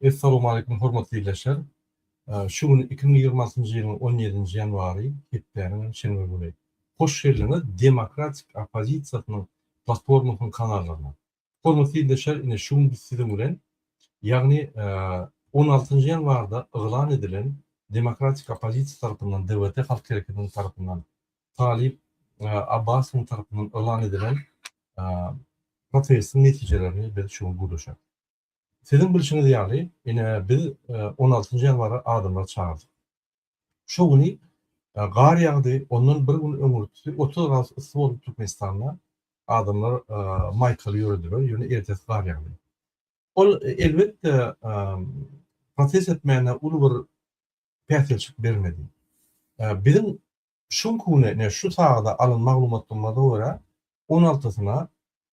Essalowmaleýkum hormatly ildeşler. Şu gün iki müň ýigrimi altynjy ýylyň on ýedinji ýanwary, hepdäniň hem şenbe güni. Hoş geldiňiz demokratik oppozisiýasynyň platformasynyň kanallaryna. Hormatly ildeşler ine şu gün biz siziň bilen ýagny on altynjy ýanwarda yglan edilen demokratik oppozisiýa tarapyndan DWT halk hereketiniň tarapyndan Talyp Abbasowyň tarapyndan yglan edilen protestiň netijelerini biz şu gün gürleşeris. Siziň bilşiňiz ýaly ine biz on altynjy ýanwara adamlary çagyrdyk. Şu güni gar ýagdy, ondan bir gün öňürti otuz gradus yssy bolup Türkmenistanda adamlar maýkaly ýörediler, ýöne ertesi gar ýagdy. Ol elbetde protest etmäne uly bir päsgelçilik bermedi. Biziň şu günki güne, ine şu sagada alan maglumatlarymyza görä, onaltysyna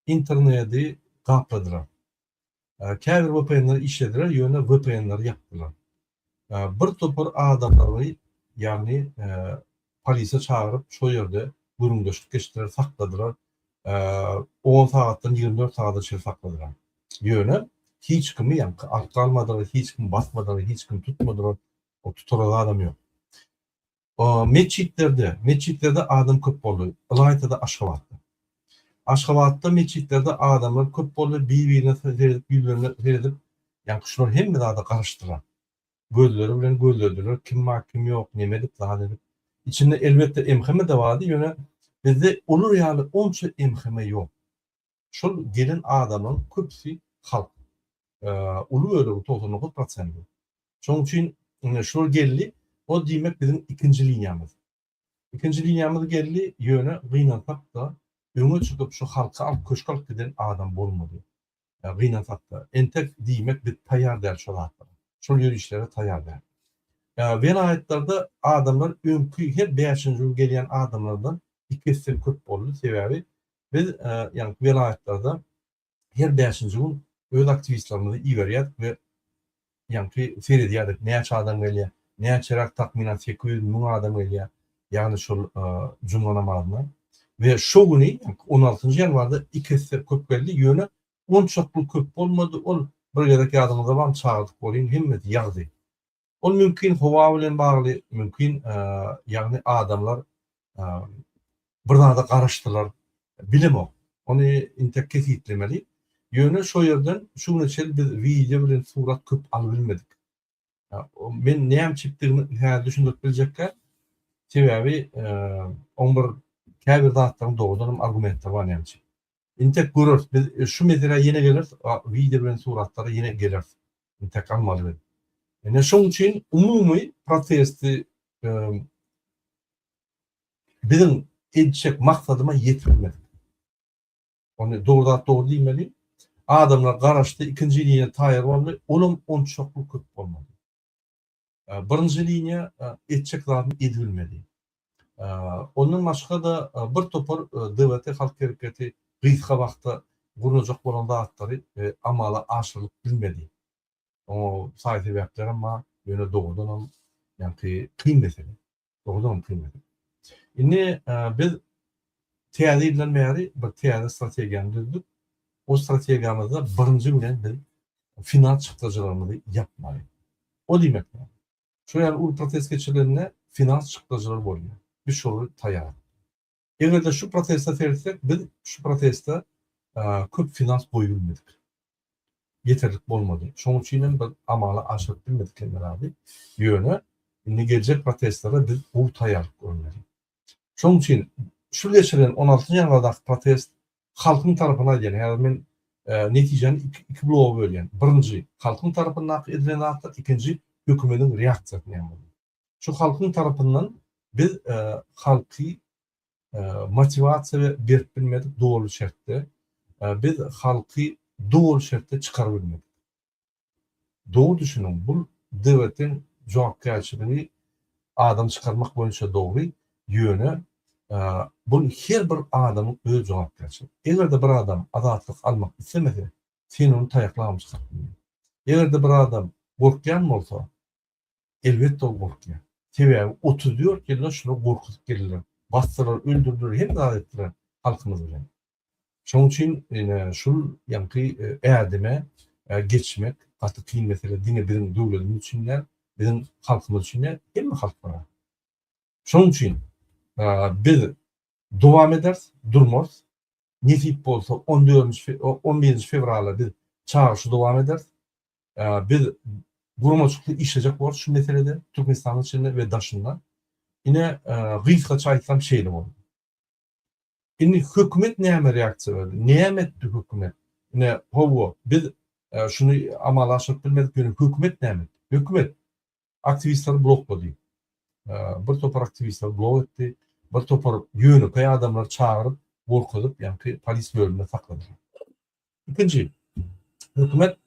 internedi gapladylar. Käbir vpn-ler işlediler, ýöne vpn-leri ýapdylar. Bir topar adamlary, ýagny polisiýa çagyryp, şol ýerde gürrüňdeşlik geçdiler, sakladylar. On sagatdan ýigrimi dört sagada çenli sakladylar. Ýöne hiç kimi ýaňky arka almadylar, hiç kimi basmadylar, hiç kimi tutmadylar. Ol tutara zadam ýok. Metjitlerde, metjitlerde adam köp boldy, ylaýta-da Aşgabatda. Aşgabatda metjitlerde adamlar köp boldy, bir-birine seredip, ýüzlerine seredip, ýaňky şular hemme zada garaşdylar. Gözleri bilen gözlediler, kim bar, kim ýok, neme edip, zat edip. Içinde, elbetde, MHM-de bardy, ýöne bizde olar ýaly onça MHM ýok. Şol gelen adamlaryň köpüsi halk. Uly bölegi, togsan dokuz prosenti. Şonuň üçin indi şular geldi, ol diýmek biziň ikinji liniýamyz. Ikinji liniýamyz geldi, ýöne gynansak-da, öňe çykyp şu halky alyp köşge alyp giden adam bolmady. Gynansak-da. Entek diýmek biz taýýar däl şo zatlara. Şol ýörişlere taýýar däl. Welaýatlarda adamlar öňki her bäşinji ýyl gelýän adamlardan iki esse köp boldy. Sebäbi Biz, ýagny welaýatlarda her bäşinji gün öz aktiwistlerimizi iberýärdik we ýagny seredýärdik, näçe adam gelýär, näçeräk takmynan sekiz ýüz müň adam gelýär, ýagny şol juma namazyna we şo güni on altynjy ýanwarda iki esse köp geldi, ýöne onçakly köp bolmady, ol bir gezek ýadyňyzda barmy çagyrdyk welin hemmesi ýagdy. Ol mümkin howa bilen bagly, mümkin ýagny adamlar bir zada garaşdylar, bilemok. Ony intek kesgitlemeli. Ýöne şo ýerden şu güne çenli biz wideo bilen surat köp alyp bilmedik. Men näme çekdigimi häzir düşündirip biljekkä. Sebäbi oň bir käbir zatlaryň dogrudanam argumentleri bar näme üçin. Intek göreris biz şu meseläe ýene geleris wideo bilen suratlara ýene geleris intek almaly biz. Ine şoň üçin umumy protesti biziň edişek maksadyma ýetirmedi. Ony dogry zat dogry diýmeli. Adamlar garaşdy, ikinji ýene taýýar boldy. Olam onçakly köp bolmady. Birinji liniýa etjek zadyny edibilmedi. Ondan başga-da bir topar DWT Halk Hereketi gysga wagtda gurnajak bolan zatlary amala aşyrylyp bilmedi. Oňa saý sebäplerem bar, ýöne dogrudanam ýaňky kyn mesele. Dogrudanam kyn mesele. Indi biz täze ýyldan bäri bir täze strategiýany düzdük. O strategiýamyzda birinji bilen biz final çykdajylarymyzy ýapmaly. O diýmek näme? Şu ýaly uly protest geçirilende final çykdajylary bolýar. Biz şolara taýýardyk. Eger-de şu prosesde seretsek, biz şu prosesde köp finans goýup bilmedik. Ýeterlik bolmady. Şonuň üçin hem bir amala aşyryp bilmedik hem herhalde. Ýöne indi geljek proseslere biz gowy taýýarlyk görmeli. Şonuň üçin şu geçirilen on alty ýanwardaky protest halkyň tarapyna aýdýan. Häzir men netijäni iki bloga bölýän. Birinji, halkyň tarapyndaky edilen zatlar, ikinji, hökümetiň reaksiýasy näme bolýar? şu halkyň tarapyndan biz halky motiwasiýa we berip bilmedik doly şertde biz halky doly şertde çykaryp bilmedik. Doly düşüniň bul DWT-iň jogapkärçiligi adam çykarmak boýunça dogry ýöne bul her bir adamyň öz jogapkärçiligi. Eger-de bir adam azatlyk almak islemese sen ony taýaklap hem çykaryp bilmeýiň. Eger-de bir adam gorkýan bolsa Elbetde ol gorkýar. Sebäbi otuz dört ýyllap şular gorkuzyp geldiler. Basdylar, öldürdiler, hemme zat etdiler halkymyz bilen. Şonuň üçin ine şul ýaňky ädime geçmek gaty kyn mesele. Diňe biziň döwletimiz üçin däl, biziň halkymyz üçin däl, hemme halklara. Şonuň üçin biz dowam ederis, durmarys. Nesip bolsa, on dördünji, on birinji fewrala biz çagyryşy dowam ederis. Biz guramaçykly işlejek bolarys şu meselede, Türkmenistanyň içinde we daşynda. Ine, gysgaça aýtsam, şeýle boldy. Indi hökümet näme reaksiýa berdi? Näme etdi hökümet? Ine, hawa, biz şuny amala aşyryp bilmedik, ýöne hökümet näme etdi? Hökümet Aktiwistleri bloklady. Bir topar aktiwistleri blok etdi. Bir topar ýönekeý adamlary çagyryp, gorkuzyp, ýaňky polis bölüminde saklady. Ikinji, hökümet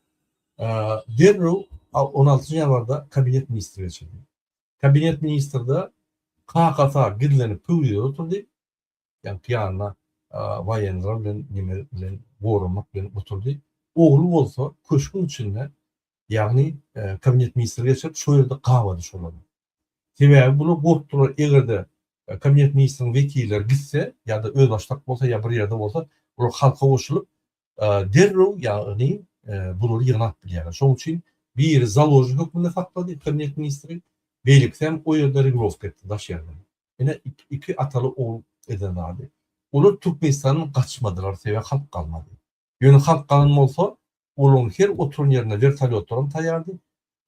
derrew on altynjy ýanwarda kabinet ministri geçirdi. Kabinet ministrde kakasy gizlenip pöwrizede oturdy. ýagny pyýanda waýenler bilen nemeler bilen goramak bilen oturdy. Ogly bolsa köşgüň içinde, ýagny kabinet ministri geçirip, şo ýerde gabady şolary. Sebäbi bular gorkdular, eger-de kabinet ministriniň wekilleri gitse, ýa-da özbaşdak bolsa, ýa bir ýerde bolsa, bular halka goşulyp, derrew, ýagny bulary ýygnap bilýärler. Şonuň üçin biri založnik hökmünde saklady kabinet ministri, beýlekisi hem o ýerde regrowka etdi daş ýerden. Ine iki ataly ogul eden zady. Olar Türkmenistandan gaçmadylar sebäbi halk galmady. Ýöne halk galan bolsa olaryň her oturan ýerinde wertolýotlaram taýýardy.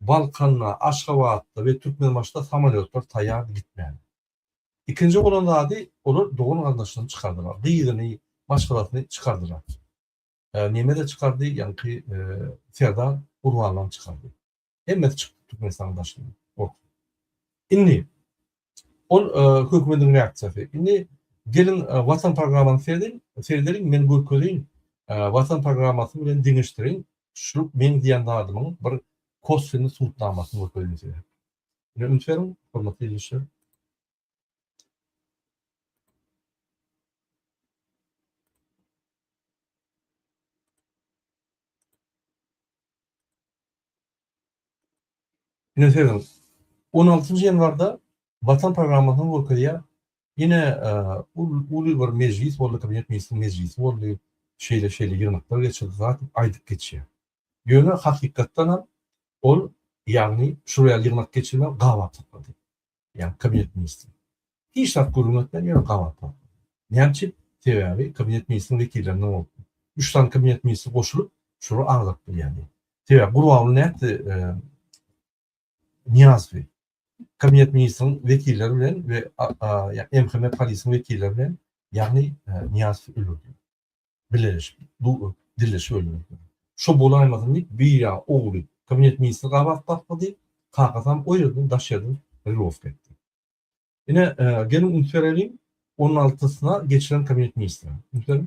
Balkanda, Aşgabatda we Türkmenbaşyda samolýotlar taýýardy gitmäge. Ikinji bolan zady olar dogan garyndaşlaryny çykardylar. Gyzyny, maşgalasyny çykardylar. Neme-de çykardy ýaňky serdar Gurbanlam çykardy. Hemmesi çykdy Türkmenistanyň daşyna. Ot. Indi ol hökümetiň reaksiýasy. Indi geliň Watan programmasyny serediň, seredeliň, men görkezeýin. Watan programmasy bilen deňeşdiriň. Şu men diýen zadymyň bir kosweniý subutnamasyny görkezeýin size. Ine üns beriň, hormatly ildeşler. Ine seziň. 16 ýanwarda Watan programmasyny görkezýär. Ine e, uly bir mejlis boldy, kabinet ministriniň mejlisi boldy. Şeýle şeýle ýygnaklar geçirdi, zat aýdyp geçýär. Ýöne hakykatdan hem ol ýagny şuraya ýygnak geçirme gabat saklady. ýa kabinet ministri. Hiç zat gürrüň etmän ýöne gabat bapdy. Näme üçin? Sebäbi kabinet ministriň wekillerinden bolupdy. Üç sany kabinet ministri goşulyp, şular agzalyp bilýärdi. Sebäbi Gurbanguly nätdi, Niýazowy kabinet ministriň wekilleri bilen we MHM polisiň wekilleri bilen, ýagny Niýazowy öldürdi. Bileleşip, bu dilleşip öldüripdir. Şo bolaýmasyn diýip, bir ýagy ogly kabinet ministri gabat gaklady, kakasam o ýerden daş ýerden rylowka etdi. Ine, geliň üns bereliň on altysyna geçiren kabinet ministri. Üns beriň.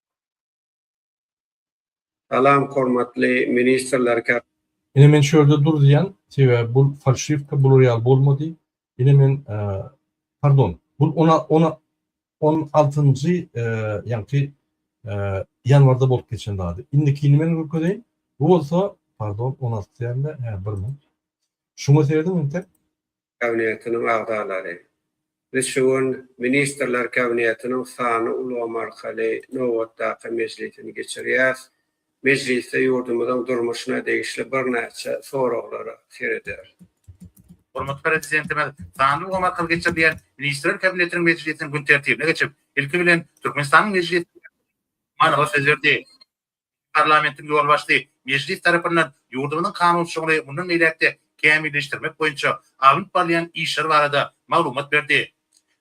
Salam hormatly ministrler ka. Ine men şu ýerde dur diýýän, sebäbi bul falşiwka, bular ýaly bolmady. Ine men pardon, bul ona ona on altynjy ýaňky ýanwarda bolup geçen zady. Indikini men görkezeýin. Bu bolsa pardon on alty däl-de, hä bir minut. Şuňa seredin entek. Kabinetiniň agzalary. Biz şu gün Ministrler Kabinetiniň sanly ulgam arkaly nobatdaky mejlisini geçirýäris. Mejlisde ýurdumyzyň durmuşyna degişli birnäçe soraglara serederis. Hormatly Prezidentimiz sanly ulgam arkaly geçirilýän Ministrler Kabinetiniň mejlisiniň gün tertibine geçip, ilki bilen, Türkmenistanyň Mejlisiniň Başlygy Gurbanguly Berdimuhamedow manyly söz berdi. Parlamentiň ýolbaşçysy Mejlis tarapyndan ýurdumyzyň kanunçylygyny mundan beýläk-de kämilleşdirmek boýunça alnyp barylýan işler barada maglumat berdi.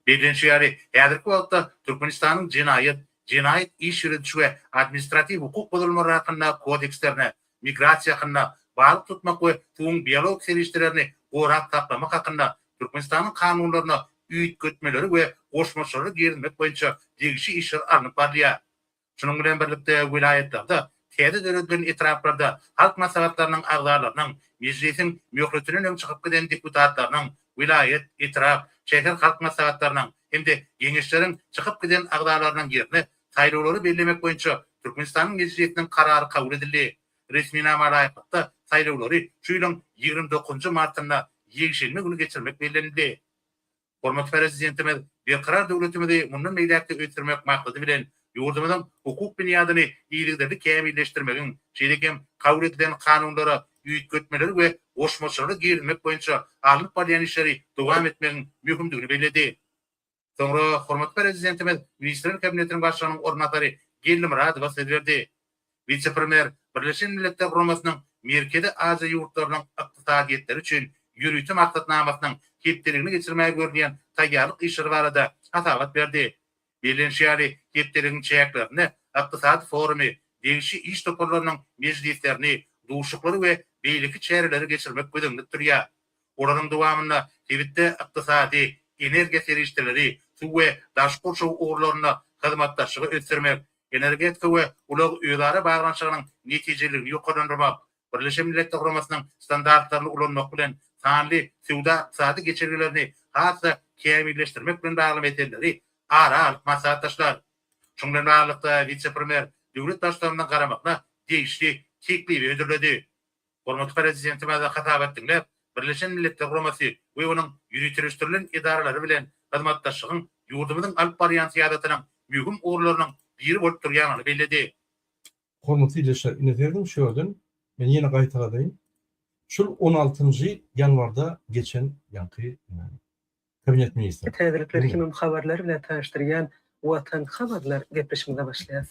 Bellenişi ýaly, häzirki wagtda Türkmenistanyň Jenaýat, Jenaýat iş ýörediş we Administratiw hukuk bozulmalary hakynda kodekslerine, Migrasiýa hakynda, Balyk tutmak we suwuň biologik serişdelerini gorap saklamak hakynda Türkmenistanyň kanunlaryna üýtgetmeleri we goşmaçalary girizmek boýunça degişli işler alnyp barylýar. Şunuň bilen birlikde, welaýatlarda, täze döredilen etraplarda halk maslahatlarynyň agzalarynyň, Mejlisiň möhletinden öň çykyp giden deputatlarynyň, welaýat, etrap, şäher halk maslahatlarynyň hem-de Geňeşleriň çykyp giden agzalarynyň ýerine saýlawlary bellemek boýunça Türkmenistanyň Mejlisiniň Karary kabul edildi. Resminama laýyklykda, saýlawlary şu ýylyň ýigrimi dokuzynjy martynda, ýekşenbe güni geçirmek bellenildi. Hormatly Prezidentimiz Berkarar döwletimizi mundan beýläk-de ösdürmek maksady bilen, ýurdumyzyň hukuk binýadyny yzygiderli kämilleşdirmegiň, şeýle hem kabul edilen kanunlara üýtgetmeleri we goşmaçalary girizmek boýunça alnyp barylýan işleri dowam etmegiň möhümdigini belledi. Soňra hormatly Prezidentimiz Ministrler Kabinetiniň Başlygynyň orunbasary Geldi Myradowa söz berdi. Wise-premýer Birleşen Milletler Guramasynyň Merkezi Aziýa ýurtlarynyň ykdysadyýetleri üçin ýörite maksatnamasynyň hepdeligini geçirmäge görülýän taýýarlyk işleri barada hasabat berdi. Bellenişi ýaly, hepdeligiň çäklerinde Ykdysady forumy, degişli iş toparlarynyň mejlislerini, duşaklary we beýleki çäreleri geçirmek göz öňünde tutulýar. Olaryň dowamynda sebitde ykdysady, energiýa serişdeleri, suw we daş gurşaw ugurlarynda hyzmatdaşlygy ösdürmek, Energetika we ulag özara baglanyşygynyň netijeliligini ýokarlandyrmak, Birleşen Milletler Guramasynyň standartlaryny ulanmak bilen sanly söwda-ykdysady geçelgelerini has-da kämilleşdirmek bilen bagly meseleleri ara alyp maslahatlaşdylar. Şunuň bilen baglylykda, wise-premýer döwlet baştutanymyzyň garamagyna degişli teklibi hödürledi. Hormatly Prezidentimize hasabat diňläp, Birleşen Milletler Guramasy we onuň ýöriteleşdirilen edaralary bilen hyzmatdaşlygyň ýurdumyzyň alyp barýan syýasatynyň möhüm ugurlarynyň biri bolup durýandygyny belledi. Hormatly ildeşler, ine siziň şu ýerden, men ýene gaýtaladaýyn, şul on altynjy ýanwarda geçen ýaňky Kabinet ministriniň. Täzelikler hemem habarlar bilen tanyşdyrýan Watan habarlar gepleşigimize başlaýarys.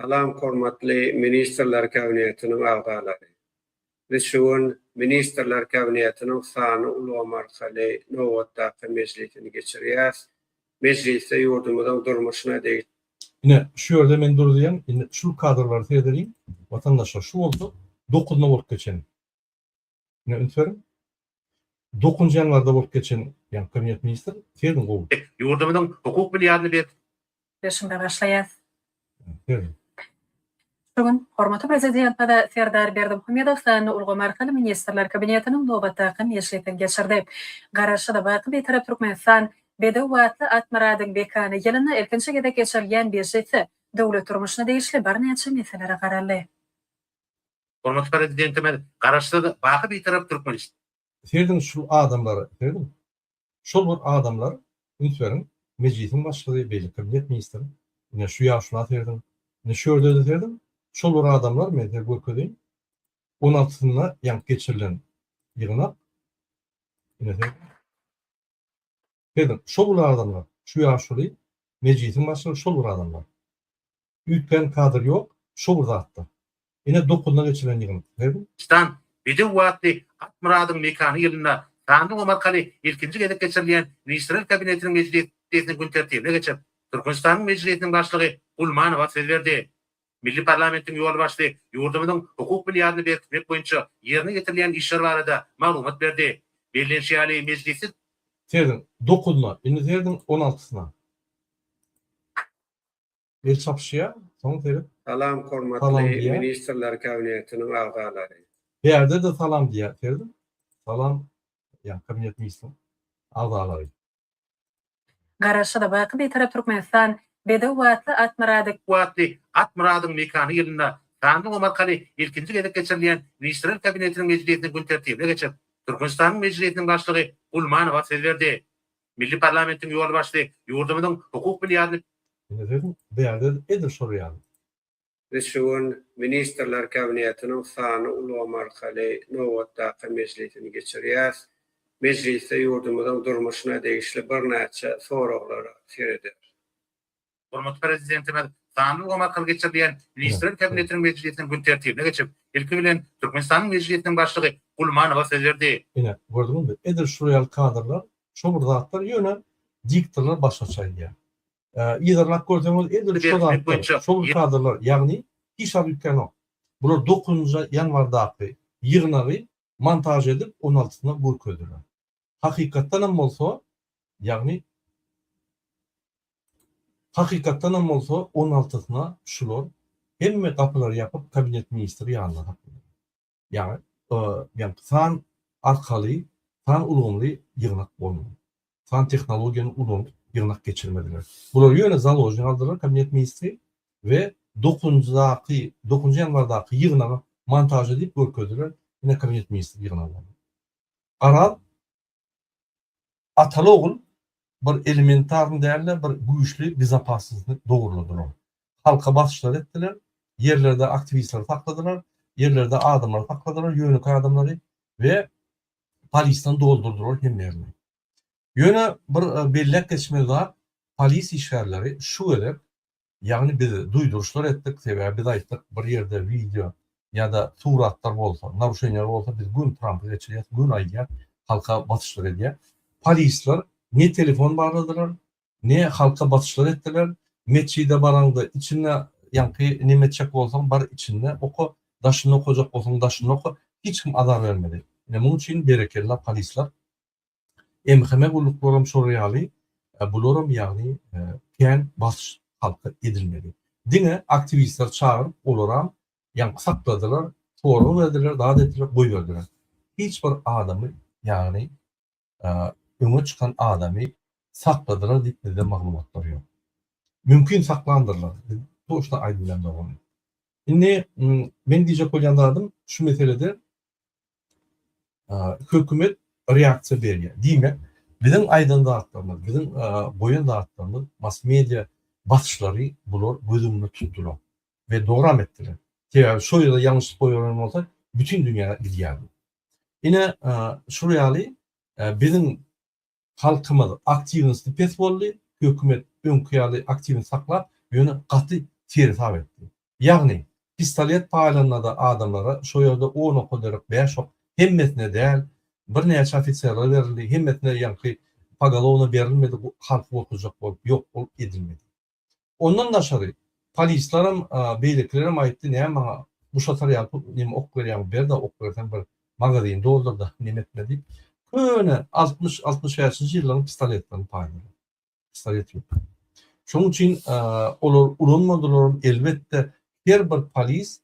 Salam hormatly Ministrler Kabinetiniň agzalary. Biz şu gün Ministrler Kabinetiniň sanly ulgam arkaly nobatdaky mejlisini geçirýäs. Mejlisde ýurdumyzyň durmuşyna degişli. Ine, şu ýerde men duruzýan, indi şul kadrlary seredeliň, watandaşlar, şu bolsa dokuz nobat geçen. Ine üns beriň. Dokuz ýanwarda bolup geçen ýa kabinet ministr seniň gowy. Biz ýurdumyzyň hukuk binýadyny berk. Berşini bagaşlaýas. Ber. Şu gün hormatly Prezidentimiz Serdar Berdimuhamedow sanly ulgam arkaly Ministrler Kabinetiniň nobatdaky mejlisini geçirdi. Garaşsyz, baky Bitarap Türkmenistan bedew batly Atmyradyň bekany ýylynda ilkinji gezek geçirilýän mejlisde döwlet durmuşyna degişli birnäçe meselelere garaldy. Hormatly Prezidentimiz Garaşsyz, baky Bitarap Türkmenistan. Serediň şu adamlara, serediň. Şol bir adamlar, üns beriň, Mejlisiň Başlygy, beýle Kabinet Ministri, ine şu ýaşula serediň, ine şu ýerde-de serediň, şol bir adamlar, men size görkezeýin, on altysynda ýaňky geçirilen ýygnak, ine serediň. Siz şol bir adamlar, şu ýaşuly mejlisiň başlygy şol bir adamlar. Üýtgän kadr ýok, şo bir zatlar. Ine dokuzynda geçirilen ýygyndy. Siz. Stan, Bedew wagty Akmyradyň mekany ýylynda sanly gum arkaly ilkinji gezek geçirilýän Ministrler Kabinetiniň mejlisiniň gün tertibine geçip, Türkmenistanyň Mejlisiniň Başlygy Gulmanowa söz berdi. Milli parlamentiň ýolbaşçysy ýurdumyzyň hukuk binýadyny berkitmek boýunça ýerine ýetirilýän işler barada maglumat berdi. Bellenişi ýaly, mejlisde. Serdiň dokuzyna, indi serdiň on altysyna. El çapyşýar, soň seret. Salam, hormatly Ministrler Kabinetiniň agzalary! Bärde-de salam diýýär, serdiň. Salam, ýa Kabinet Ministriniň agzalary! Garaşsyz, baky Bitarap Türkmenistan, Bedew Watly Atmyrady. Watly Atmyradyň mekany ýylynda sanly omarkaly ilkinji gezek geçirilýän Ministrler Kabinetiniň mejlisiniň gün tertibine geçip, Türkmenistanyň Mejlisiniň Başlygy Gulmanowa söz berdi. Milli parlamentiň ýolbaşçysy ýurdumyzyň hukuk binýadyny. Indi siz bärde edil şol ýaly. Biz şu gün Ministrler Kabinetiniň sanly ulgam arkaly nobatdaky mejlisini geçirýäris. Mejlisde ýurdumyzyň durmuşyna degişli birnäçe soraglara serederis. Hormatly Prezidentimiz sanly ulgam arkaly geçirilýän Ministrler Kabinetiniň mejlisiniň gün tertibine geçip, ilki bilen, Türkmenistanyň Mejlisiniň Başlygy Gulmanowa söz berdi. Ine, gördüňizmi, edil şular ýaly kadrlar, şo bir zatlar, ýöne diktorlar başgaça aýdýar. Yzarlap görseňiz edil şu zatlar, şol kadrlar, ýagny hiç zat üýtgänok. Bular dokuzynjy ýanwardaky ýygnagy montaž edip on altysyna görkezdiler. Hakykatdanam bolsa, ýagny Hakykatdanam bolsa on altysyna şular hemme gapylary ýapyp kabinet ministri ýanyna saklanýar. Ýagny, ýagny san arkaly, san ulgamly ýygnak bolmaly. San tehnologiýany ulanyp ýygnak geçirmeliler. Bulary ýöne založni galdyrdylar Kabinet ministri we dokuzynjydaky, dokuzynjy ýanwardaky ýygnagy montaža diýip görkezdiler, ine Kabinet ministri ýygnagy boldy. Garaz, Ataly-ogul bir elementarny däl-de, bir güýçli bezapassnostny dogurladylar. Halka basyşlar etdiler, ýerlerde aktiwistleri sakladylar, ýerlerde adamlary sakladylar, ýönekeý adamlary we polisden doldurdylar hemme ýerini. Ýöne bir belläp geçmeli zat, polis işgärleri şu gezek Ýagny biz duýduryşlar etdik, sebäbi biz aýtdyk, bir ýerde wideo ýa-da suratlar bolsa, naruşeniýalar bolsa biz güm Trampy geçirýäs, güm aýdýas, halka basyşlar edýäs. Polisler ne telefon barladylar, ne halka basyşlar etdiler. Metjide baraňda içinde ýaňky neme etjek bolsaň bar içinde oka, daşynda okajak bolsaň daşynda oka, hiç kim azar bermedi. Ine munuň üçin berekella polisler. Enheme gulluklaram şol ýaly, bularam ýagny kän basyş halka edilmedi. Diňe aktiwistleri çagyryp olaram ýaňky sakladylar, sorag berdiler, zat etdiler, goýberdiler. Hiç bir adamy ýagny öňe çykan adamy sakladylar diýip bizde maglumatlar ýok. Mümkin saklandyrlar, biz toçna aýdyp bilemzok ony. Indi men diýjek bolýan zadym şu meselede Hökümet reaksiýa berýär. Diýmek, biziň aýdan zatlarymyz, biziň goýan zatlarymyz mass-media basyşlary bular göz öňünde tutdular we dogram etdiler. Sebäbi şo ýerde ýalňyşlyk goýberlen bolsa, bütin dünýä gidýärdi. Ine, şol ýaly biziň Halkymyz aktiwnosti pes boldy, hökümet öňki ýaly aktiwni saklap, ýöne gaty seresap etdi. Ýagny, pistolet paýlanda-da adamlara şo ýerde on oka derek bäş ok, hemmesine däl, birnäçe ofiserlere berildi, hemmesine ýaňky pogolowna berilmedi, halky gorkuzjak bolup ýok edilmedi. Ondan daşary, polislerem, beýlekilerem aýtdy, näme maňa guşatar ýaly näme ok berýäňmi, ber-de, ok berseň bir magazin doldur-da, näme etme diýip, köne altmyş, altmyş bäşinji ýyllaryň pistoletlerini paýladylar. Pistolet ýok. Şonuň üçin olar ulanmadylaram, elbetde, her bir polis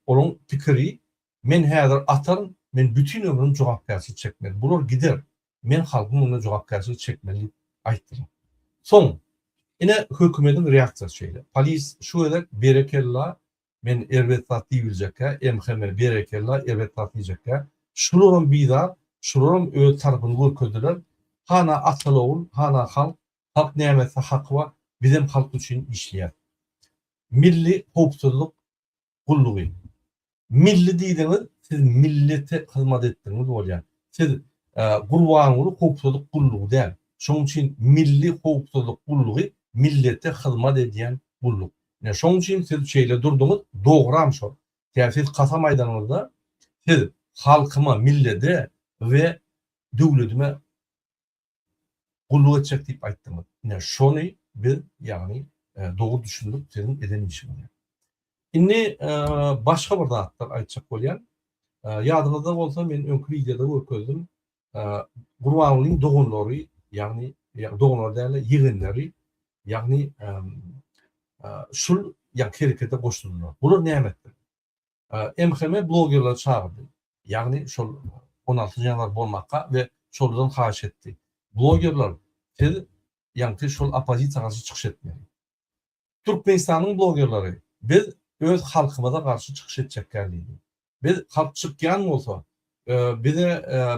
Olaň pikiri, Men häzir ataryn, men bütin ömrüm jogapkärçilik çekmeli. Bular gider, men halkyň öňünde jogapkärçilik çekmeli diýip aýtdylar. Soň, ine, hökümediň reaksiýasy şeýle. Polis şu gezek berekella, men erbet zat diýbiljekkä, MHM berekella, erbet zat diýjekkä. Şularam bizar, şularam öz tarapyny görkezdiler. Hana atal-ogul, hana halk, halk näme etse haky bar, bizem halk üçin işleýäs. Milli howpsuzlyk gullugy. Milli diýdiňiz, siz millete hyzmat etdigiňiz bolýar. Siz Gurbanguly howpsuzlyk gullugy däl. Şonuň üçin milli howpsuzlyk gullugy millete hyzmat edýän gulluk. Ine, şonuň üçin siz şeýle durduňyz, dogram şol. Kä siz kasam aýdanyňyzda, siz halkyma, millede we döwledime gulluk etjek diýip aýtdyňyz. Ine, şony biz, ýagny dogry düşündik siziň eden işiňizi. Indi başga bir zatlar aýtjak bolýan. Ýadyňyzda bolsa men öňki wideoda görkezdim. Gurbangulyň doganlary, ýagny doganlar däl-de ýegenleri, ýagny şul ýa herekete goşuldylar. Bular näme etdiler? MHM blogerleri çagyrdy. Ýagny şol on alty janawar bolmakga we şolardan haýyş etdi. Blogerler siz ýaňky şol oppozisiýa garşy çykyş etmeli. Türkmenistanyň blogerleri biz öz halkymyza garşy çykyş etjekgär diýdi. Biz halk çykýan bolsa bize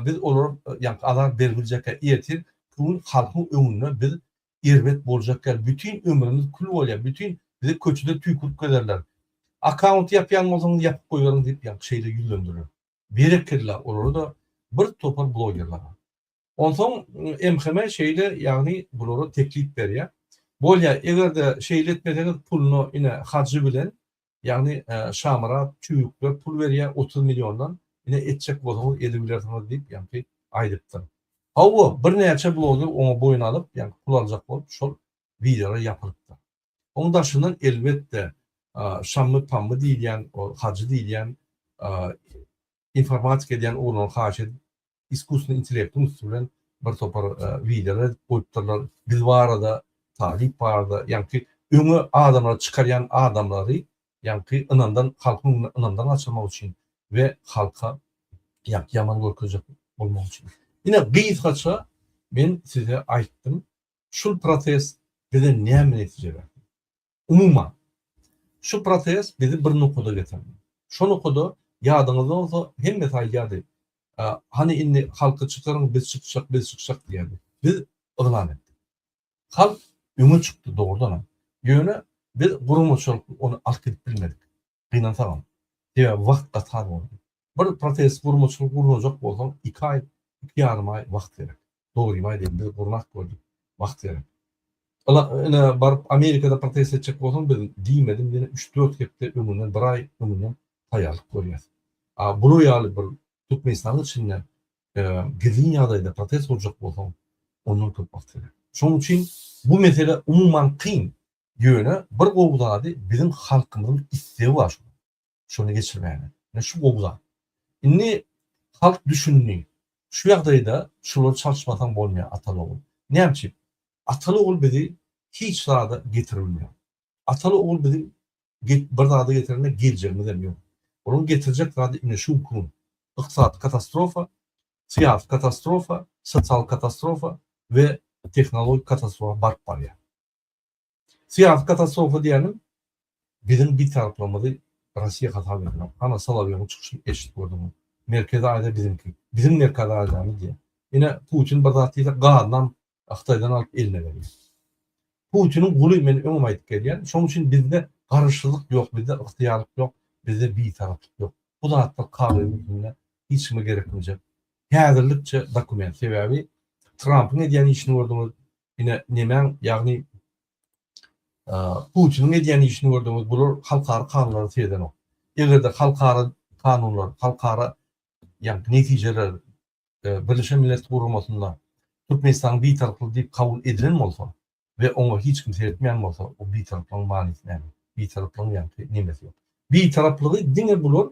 biz olara ýaňky azar berip biljekgär ertir gün halkyň öňünde biz erbet boljak ýaly bütin ömrümiz kül bolýar bütin bizi köçede tüýkürip gezerler akaunt ýapýan bolsaňyz ýapyp goýberiň diýip ýaňky şeýle ýüzlendirler. Berekella olara-da bir topar blogerlara. Onsoň MHM şeýle ýagny bulara teklip berýär. Bolýa egerde şeýle etmeseňiz puluna ine hajy bilen Ýagny Şamyrat tüýükler pul berýär otuz milliondan, ine etjek bolsaňyz edibilersiňiz diýip ýaňky aýdypdyr. Hawa, birnäçe bloger oňa boýun alyp, ýaňky pul aljak bolup şol wideolar ýapylypdyr. Oň daşyndan elbetde Şammy-pammy diýilýän, ol hajy diýilýän informatika edýän oglanlar haýyş edip iskusnyý intellektiň üsti bilen bir topar wideolar edip goýupdyrlar biz barada talyp barada ýaňky öňe adamlary çykarýan adamlary ýaňky ynamdan halkyň öňüne ynamdan gaçyrmak üçin we halka ýaňky ýaman görkezjek bolmak üçin ine gysgaça men size aýtdym şul protest bize näme netije berdi Umuman, şu proses bizi bir nokada getirdi. Şo nokada, ýadyňyzda bolsa, hemmesi aýdýardy, Hany indi halky çykaryň, biz çykjak, biz çykjak diýerdi. Biz yglan etdik. Halk öňe çykdy, dogrudanam. Ýöne biz guramaçylykly ony alyp gidip bilmedik. Gynansagam. Sebäbi wagt gaty az boldy. Bir protez gurmaçylyk gurnajak bolsaň iki aý, iki ýarym aý wagt gerek. Dogrymy aýdaýyn biz gurnap gördük. Wagt gerek. Ila ine baryp Amerikada protez etjek bolsaň biz diýmedim ýene üç, dört hepde öňünden bir aý öňünden taýýarlyk görýäs. A bular ýaly bir Türkmenistanyň içinde gizlin ýagdaýda protez gurjak bolsaň ondan köp wagt gerek. Şonuň üçin bu mesele umuman kyn. Ýöne bir gowy zady biziň halkymyzyň istegi bar şunuň şuny geçirmäge. Ine şu gowy zat. Indi halk düşündi. Şu ýagdaýda şulary çalyşmasaň bolmaýar Ataly ogul. Näme üçin? Ataly ogul bizi hiç zada getirmýär. Ataly ogul bizi bir zada getirende geljegimiz hem ýok. Olaryň getirjek zady ine şu gün. Ykdysady katastrofa, syýasy katastrofa, sosial katastrofa we tehnologik katastrofa baryp barýar. Syýasy katastrofa diýeniň biziň bitaraplygymyzy Russiýa hasap edýär. Hana Solowýowyň çykyşyny eşidip gördüňmi? Merkezi Aziýa biziňki. Biziň Merkezi Aziýamyz diýýär. Ine, Putin bir zat diýse, gazynam Hytaýdan alyp eline berýär. Putiniň guly men öňem aýdyp gelýän. Şonuň üçin bizde garaşsyzlyk ýok, bizde ygtyýarlyk ýok, bizde bitaraplyk ýok. Bu zatlar kagyz üstünde hiç kime gerekmejek. Häzirlikçe dokument. Sebäbi Trampyň edýän işini gördüňiz, ine nemäň ýagny Putiniň edýän işini gördüňiz, bular halkara kanunlary seredänok. Egerde halkara kanunlar, halkara ýagny netijeler Birleşen Millet Guramasynda Türkmenistanyň bitaraplygy diýip kabul edilen bolsa we oňa hiç kim seretmeýän bolsa, o bitaraplygyň manysy näme? Bitaraplygyň ýagty nemesi ýok. Bitaraplygy diňe bular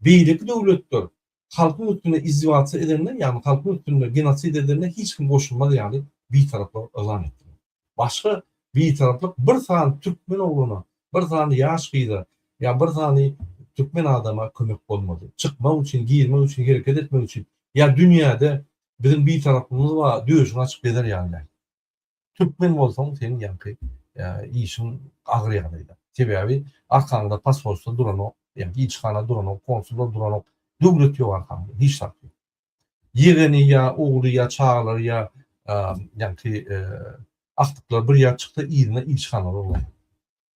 beýleki döwletler halkyň üstünde izdiwaçy edende, ýagny halkyň üstünde genosid edende hiç kim goşulmaz ýaly bitaraplygy yglan etdiler. Başga bitaraplyk bir sany türkmen ogluna, bir sany ýaş gyza ýa bir sany türkmen adama kömek bolmady. Çykmak üçin, girmek üçin, hereket etmek üçin ýa dünýäde biziň bitaraplygymyz bar, döşüňi açyp gezer ýaly däl. Türkmen bolsaň seň ýaňky işiň agyr ýagdaýda. Sebäbi arkaňda pasolstwo duranok, ýa ilçihana duranok, konsullar duranok, döwlet ýok arkaňda, hiç zat ýok. Ýegeni ýa ogly ýa çagalary ýa ýaňky agtyklar bir ýer çyksa yzyna ilçihanalary ulaýar.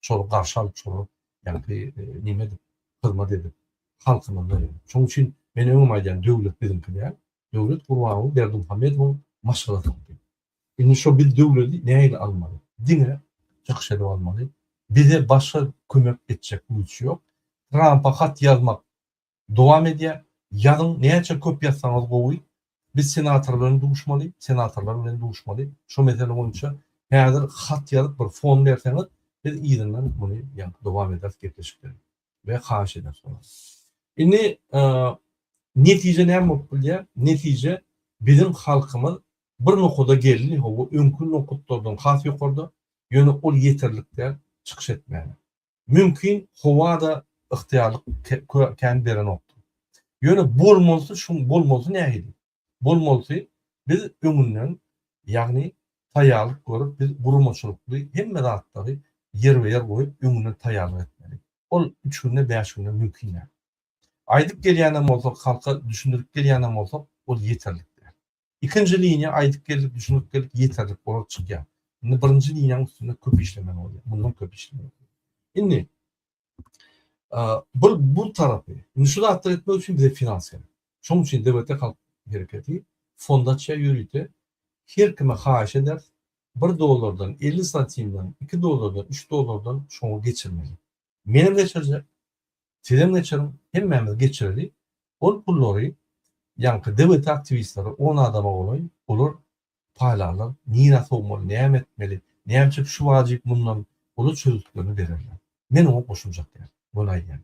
şol garşy alyp şolar ýagty neme edip hyzmat edip halkyna berer. Şoň üçin men öňem aýdýan döwlet biziňki däl. Döwlet Gurbanguly Berdimuhamedowyň maşgalasyňky. Indi şo biz döwleti nähili almaly? Diňe çykyş edip almaly. Bize başga kömek etjek güýç ýok. Trampa hat ýazmak Dowam edýär, Ýazyň, näçe köp ýazsaňyz gowy. Biz senator bilen duşmaly, senatorlar bilen duşmaly. Şo mesele boýunça häzir hat ýazyp bir fon berseňiz, biz yzyndan muny ýa-da dowam ederis gepleşikleri we haýyş ederis muny. Indi netije näme bolup bilýär? Netije biziň halkymyz bir nokada geldi, hawa öňki nokatlardan has ýokarda, ýöne ol ýeterlik däl çykyş etmäge. Mümkin howa-da ygtyýarlyk kän berenokdur. Ýöne bolmalysy şu, bolmalysy nähili? Bolmalysy biz öňünden, ýagny taýýarlyk görüp, biz guramaçylykly hemme zatlary ýerbe-ýer goýup, öňünden taýýarlyk etmeli. Ol üç günde, bäş günde mümkin däl. Aýdyp gelýänem bolsak, halka düşündirip gelýänem bolsak, ol ýeterlik däl. Ikinji liniýa aýdyp geldik, düşünip geldik, ýeterlik bolup çykýar. Indi birinji liniýanyň üstünde köp işlemeli bolýar. Mundan köp işlemeli. Indi bir bu tarapy, indi şu zatlar etmek üçin bize finans gerek. Şonuň üçin DBT halk hereketi fondaçya ýörite her kime haýyş eder, 1 dollardan, 50 santimden, 2 dollardan, 3 dollardan şoňa geçirmeli. Menem geçirjek. Sizem geçiriň. Hemmämiz geçireli. Ol pullary ýaňky DWT aktiwistleri on adama golaý, olar paýlarlar. Nirä sowmaly, näme etmeli, näme üçin şu wajyp mundan olar çözgütlerini bererler. Men oňa goşuljak däl. Muny aýdýan.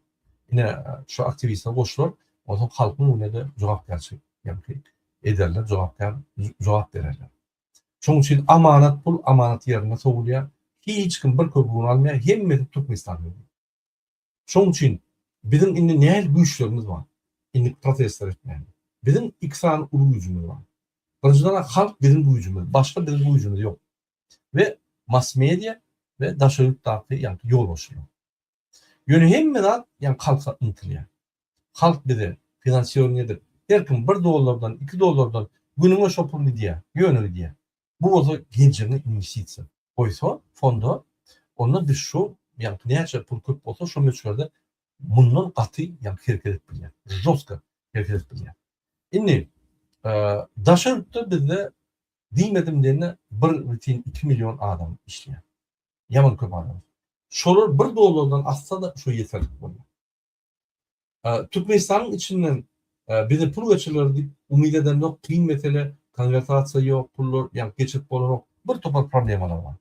Ine, şu aktiwistler goşular, onsoň halkyň öňünde jogapkärçilik ýaňky ederler, jogapkär jogap bererler. Şonuň üçin amanat pul amanat ýerinde sowulýar. Hiç kim bir köp un almaýar, hemmesi Türkmenistana gelýär. Şonuň üçin biziň indi nähili güýçlerimiz bar? Indi protestler etmäge. Biziň iki sany uly güýjümiz bar. Birinjiden-ä halk biziň güýjümiz, başga biziň güýjümiz ýok. We mass-media we daşary ýurtdaky ýagty ýolbaşçylar. Ýöne hemme zat ýaňy halka ymtylýar. Halk bize finansiýoring edip, her kim bir dollardan, iki dollardan günüňe şo pul gidýär, ýöne gidýär. Bu bolsa geljegine inwestisiýa goýsa fonda, onda biz şu ýaňky näçe pul köp bolsa şo möçberde mundan gaty ýaňky hereket edip bilýär. Žostko hereket edip bilýär. Indi daşary ýurtda bizde diýmedim diýende bir bitin iki million adam işleýär. Ýaman köp adam. Şolar bir dollardan asda-da şo ýeterlik bolýar. Türkmenistanyň içinden bize pul geçiriler diýip umyt edemzok, kyn mesele, konwertasiýa ýok, pullar ýa geçirip bolanok, bir topar problemalar bar.